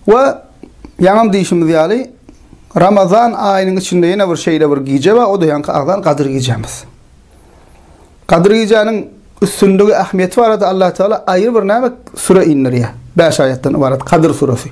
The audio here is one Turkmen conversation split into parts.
We ýaňam diýişimiz ýaly, Ramazan aýynyň içinde ýene bir şeýle bir gije bar, o-da ýaňky agzan Gadyr gijemiz. Gadyr gijäniň üstünligi, ähmiýeti barada Allah Teala aýry bir näme süre indirýär. Bäş aýatdan ybarat Gadyr suresi.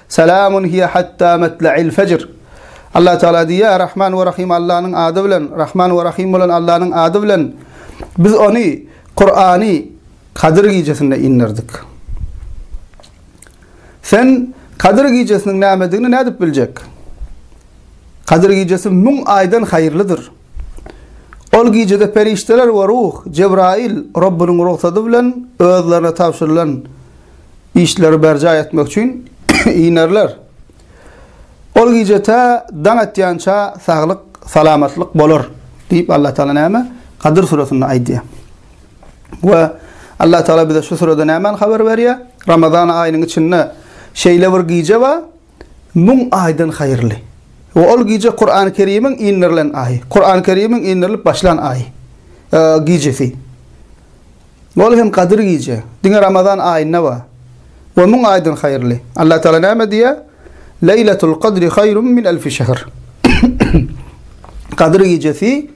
Salamun hiýe hatta matlail fejr. Allah Tagala diýýär, Rahman we Rahym Allanyň ady bilen, Rahman we Rahym bolan Allanyň ady bilen, Biz ony, Kurany, Kadyr gijesinde inderdik. Sen Kadyr gijesiniň nämedigini nädip biljek? Kadyr gijesi müň aýdan haýyrlydyr. Ol gijede perişdeler we ruh, Jebraýyl, Rabbynyň rugsady bilen özlerine tabşyrylan Işleri berjaý etmek üçin inerler. Ol gije tä daň atýança saglyk, salamatlyk bolar diýip Allah Taala näme? Gadyr süresinde aýdýar. We Allah Taala bize şu sürede nämäni habar berýär? Ramazan aýynyň içinde şeýle bir gije bar, Müň aýdan haýyrly. We ol gije Kurany Kerimiň indirilen aýy. Kurany Kerimiň indirilip başlan aýy. Gijesi. Ol hem Gadyr gije. Diňe Ramazan aýynda bar. We müň aýdan haýyrly. Allah Taala näme diýýär? Leýletul Kadri haýrun min elfi şehr. Gadyr gijesi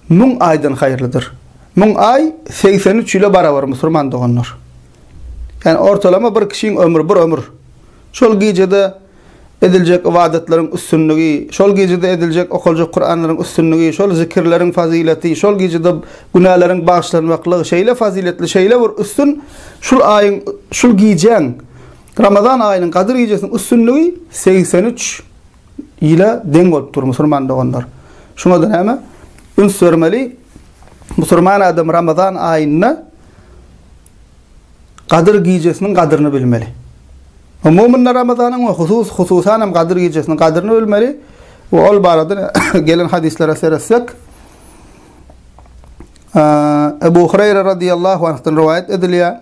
müň aýdan haýyrlydyr. Müň aý segsen üç ýyla barabar musurman doganlar. Ýagny ortalama bir kişiň ömri bir ömür. Şol gijede ediljek ybadatlaryň üstünligi, şol gijede ediljek okaljak Kuranlaryň üstünligi, şol zikirleriň fazyleti, şol gijede günäleriň bagyşlanmaklygy şeýle fazyletli, şeýle bir üstün, şul aýyň, şul gijäň, Ramazan aýynyň gadyr gijesiniň üstünligi segsen üç. Ile deň bolup dur musurman doganlar. Şuňada näme? Üns bermeli. Musurman adam Ramazan aýynda Gadyr gijesiniň gadyryny bilmeli. Umumynda Ramazanyň we husus hususan hem Gadyr gijesiniň gadyryny bilmeli we ol barada gelen hadislara seretsek, Ebu Hureyre radiyallahu anh'dan rivayet edilýär.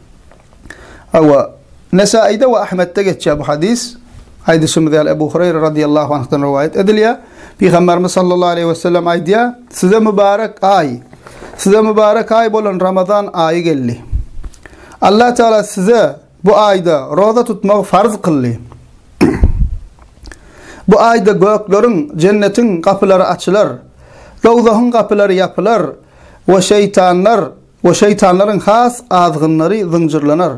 Hawa, Nesaýyda we Ahmetde geçýär bu hadys. Aýdyşymyz ýaly, Ebu Hureýre radyýallahu anhdan rowaýat edilýär. Pygamberimiz sallallahu aleýhi we sellem aýdýar, Size mübarek aý, size mübarek aý bolan Ramazan aýy geldi. Allah Teala size bu aýda roza tutmagy farz kyldy. Bu aýda gökleriň, jennetiň gapylary açylar, dowzahyň gapylary ýapylar we şeýtanlar we şeýtanlaryň has azgynlary zynjyrlanar.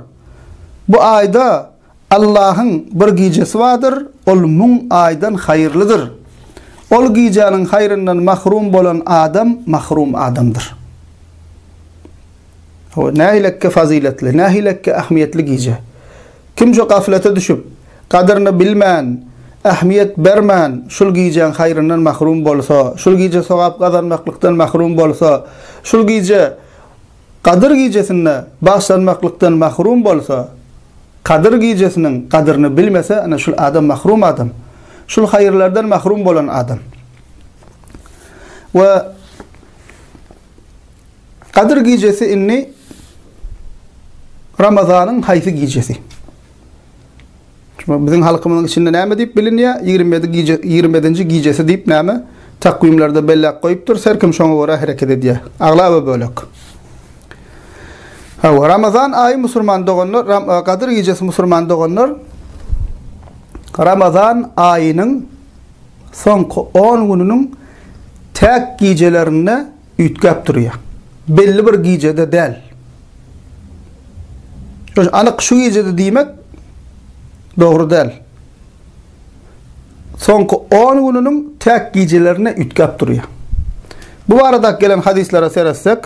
Bu aýda Allahyň bir gijesi bardyr, ol müň aýdan haýyrlydyr. Ol gijäniň haýryndan mahrum bolan adam mahrum adamdyr. Hawa, nähilekge fazyletli, nähilekge ähmiýetli gije! Kim şu gaflete düşüp, gadyryny bilmän, ähmiýet bermän, şul gijäň haýryndan mahrum bolsa, şul gije sogap gazanmaklykdan mahrum bolsa, şul gije Gadyr gijesinde bagyşlanmaklykdan mahrum bolsa, Gadyr gijesiniň gadyryny bilmese, ine şul adam mahrum adam. Şul haýyrlardan mahrum bolan adam. We Gadyr gijesi indi Ramazanyň haýsy gijesi? Çünki biziň halkymyzyň içinde näme diýip bilinýär? 27 gije 27-nji gijesi diýip näme? Takwimlerde belläp goýupdyr. Her kim şoňa görä hereket edýär. Aglaba bölek. Hawa, Ramazan aýy musulman doganlar, e, Gadyr gijesi musulman doganlar Ramazan aýynyň soňky 10 gününiň täk gijelerinde üýtgäp durýar. Belli bir gijede däl. Şoň anyk şu gijede diýmek dogry däl. Soňky on gününiň täk gijelerine üýtgäp durýar. Bu barada gelen hadyslara seretsek,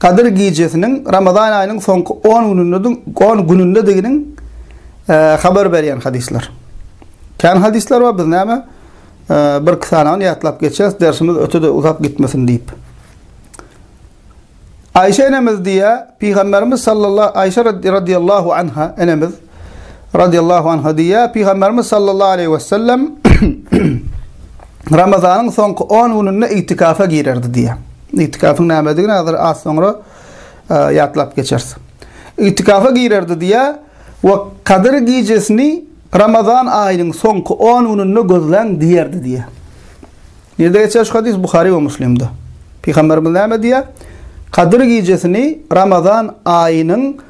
Gadyr gijesiniň Ramazan aýynyň soňky on günündedigini on günündediginiň habar berýän hadyslar. Kän hadyslar bar, biz näme bir-iki sanawyny ýatlap geçýäris, dersimiz öte-de uzap gitmesin diýip. Aýşe enemiz diýýär, Pygamberimiz sallallah Aýşe radýallahu anha enemiz radiyallahu anha diýýär, Pygamberimiz sallallahu aleyhi ve sellem Ramazanyň soňky 10 gününde itikafa girerdi diýýär. İtikafyň nämedigini hazır az soňra e, ýatlap geçeris. İtikafa girerdi diýýär we Kadyr gijesini Ramazan aýynyň soňky 10 gününde gözläň diýerdi diýýär. Nirde geçer şu hadis Buhari we Müslimde. Pygamberimiz näme diýýär? Kadyr gijesini Ramazan aýynyň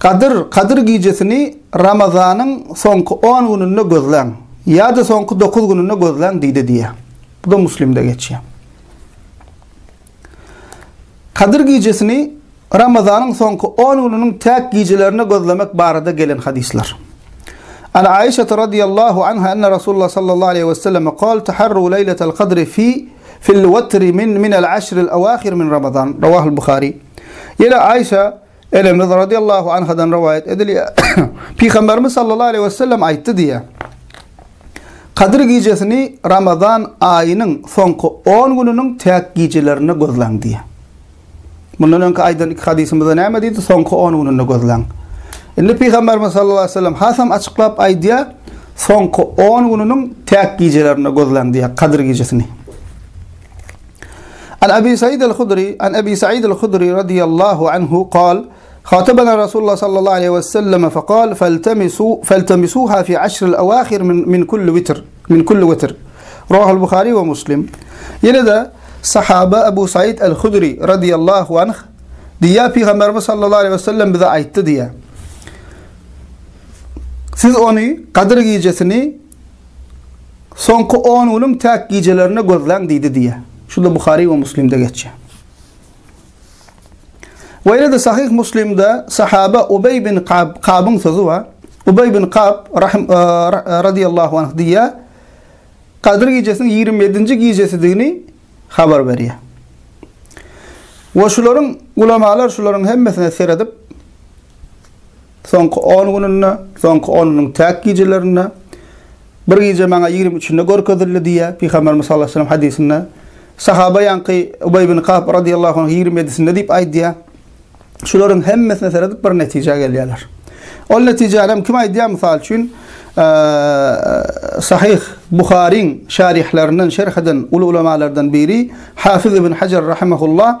Gadyr, Kadyr gijesini Ramazanyň soňky on gününde gözläň, ýa-da soňky dokuz gününde gözläň diýdi diýýär. Bu-da Muslimde geçýär. Kadyr gijesini Ramazanyň soňky on gününiň täk gijelerinde gözlemek barada gelen hadyslar. An Aişe radhiyallahu anha enne Rasulullah sallallahu aleyhi ve selleme kal taharru leyletel kadri fi fil vetri min minel aşril avahir min Ramazan. Ravahul Bukhari. Yine Aişe Enemiz radiallahu anhadan rowaýat edilýär, Pygamberimiz sallallahu aleýhi we sellem aýtdy diýýär, Kadyr gijesini Ramazan aýynyň soňky on gününiň täk gijelerinde gözläň diýýär. Mundan öňki aýdan iki hadysymyzda näme diýdi? Soňky on gününde gözläň. Indi Pygamberimiz sallallahu aleýhi we sellem hasam açyklap aýdýar, soňky on gününiň täk gijelerinde gözläň diýýär, Kadyr gijesini. An Abi Said al-Hudri, An Abi Said al-Hudri radiyallahu anhu qal, Hatabana Rasulullah sallallahu aleyhi ve sellem fe qal, Feltemisu, feltemisuha fi aşril awahir min, min kulli vitr, min kulli vitr. Rohul Bukhari ve Muslim. Yine de sahaba Abu Said al-Hudri radiyallahu anh diýýär Pygamberimiz sallallahu aleyhi ve sellem bize aýtdy diýýär. Siz ony Gadyr gijesini Soňky on günüň täk gijelerine gözläň diýdi diýýär. Şuda Buhary we Muslimde geçýär. We ýene-de Sahyh Muslimde sahaba Ubeý bin Kab, Kabyň sözi bar. Ubeý bin Kab rahim, e, e, radiyallahu anh diýýär. Kadyr gijesiniň 27-nji gijesidigini habar berýär. Ve şularyň ulamalar şularyň hemmesine seredip Soňky on gününde, soňky on günüň täk gijelerinde, Bir gije maňa ýigrimi üçinde görkezildi diýýär, Pygamberimiz sallallahu aleýhi we sellem hadysynda. Sahaba ýaňky Ubaý ibn Kab radyllahu anh ýigrimi ýedisinde diýip aýdýar. Şularyň hemmesine seredip bir netijä gelýärler. Ol netijäni hem kim aýdýar mysal üçin, Sahyh Buharyň şärihlerinden şerh eden uly ulamalardan biri Hafiz ibn Hajar rahimehullah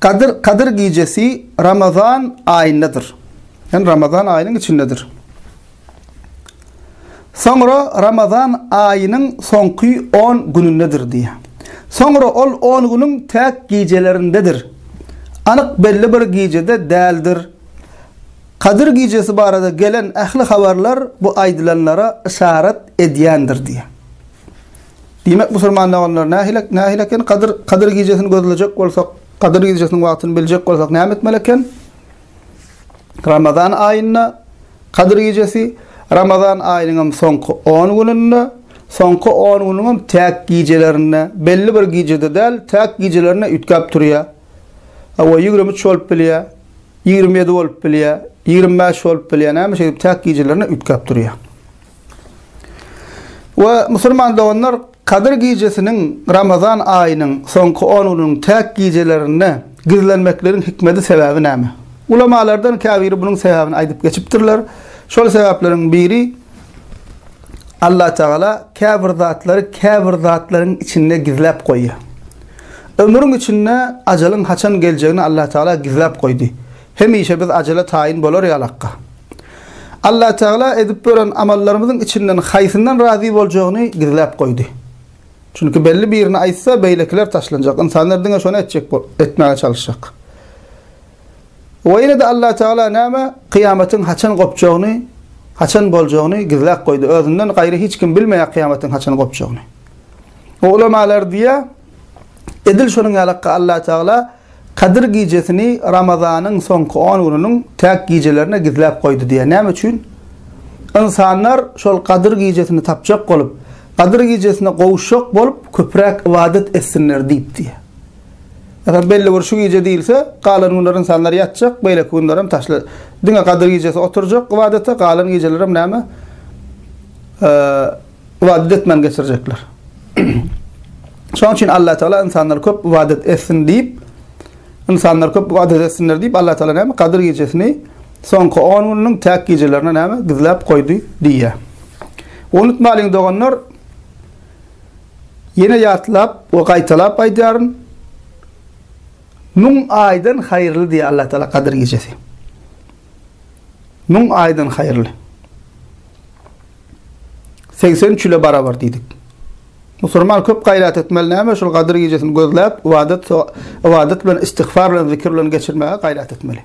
Gadyr, Kadyr gijesi Ramazan aýyndadyr. Ýagny Ramazan aýynyň içindedir. Soňra Ramazan aýynyň soňky on günündedir diýýär. Soňra ol on günüň täk gijelerindedir. Anyk belli bir gijede däldir. Kadyr gijesi barada gelen ähli habarlar bu aýdylanlara yşarat edýändir diýýär. Diýmek, musulman doganlar, nähili, nähili eken? Gadyr, Gadyr gijesini gözlejek bolsak, Gadyr gijesiniň wagtyny biljek bolsak näme etmeli eken? Ramazan aýynda Gadyr gijesi, Ramazan aýynyň hem soňky on gününde, soňky on günüň hem täk gijelerinde, belli bir gijede däl, täk gijelerinde üýtgäp durýar. Hawa, ýigrimi üç bolup bilýär, ýigrimi ýedi bolup bilýär, ýigrimi bäş bolup bilýär, näme şeýdip täk gijelerinde üýtgäp durýar. We, musulman doganlar, Kadyr gijesiniň, Ramazan aýynyň, soňky on gününiň täk gijelerinde gizlenmekligiň hikmedi, sebäbi näme? Ulamalardan käbiri bunuň sebäbini aýdyp geçipdirler, Şol sebäpleriň biri, Allatagala käbir zatlary käbir zatlaryň içinde gizläp goýýar. Ömrüň içinde ajalyň haçan geljegini Allatagala gizläp goýdy. Hemişe biz ajele taýyn bolar ýalakka. Allatagala edip bören amallarymyzyň içinden haýsyndan razy boljagyny gizläp goýdy. Çünki belli birini aýtsa, beýlekiler taşlanjak. Ynsanlar diňe şony etjek bol, etmäge çalyşjak. We ýene-de Allatagala näme? Kyýamatyň haçan gopjagyny, haçan boljagyny gizläp goýdy. Özünden gaýry hiç kim bilmeýär kyýamatyň haçan gopjagyny. We ulamalar diýýär, edil şonuň ýalakka Allatagala, Kadyr gijesini Ramazanyň soňky on gününiň täk gijelerine gizläp goýdy diýýär. Näme üçin? Ynsanlar şol Kadyr gijesini tapjak bolup, Kadyr gijesine gowuşjak bolup, köpräk ybadat etsinler diýip diýýär. Ýa-da belli bir şu gije diýilse, galan günler ynsanlar ýatjak, beýleki günler hem taşly. Diňe Kadyr gijesi oturjak ybadata, galan gijeler hem näme? ybadat etmän geçirjekler. Şonuň üçin Allah Taala insanlar köp ybadat etsin diýip, insanlar köp ybadat etsinler diýip Allah Taala näme Kadyr gijesini soňky 10 günüň täk gijelerine näme gizläp goýdy diýýär. Unutmalyň doganlar, Yine yatlap ve gaytalap aydarım. Nun aydan hayırlı diye Allah Teala Kadir gecesi. Nun aydan hayırlı. segsen üç ýyla barabar diýdik. Musurman köp gaýrat etmeli näme şol gadyr gijesini gözläp ybadat ybadat bilen istigfar bilen zikir bilen geçirmäge gaýrat etmeli.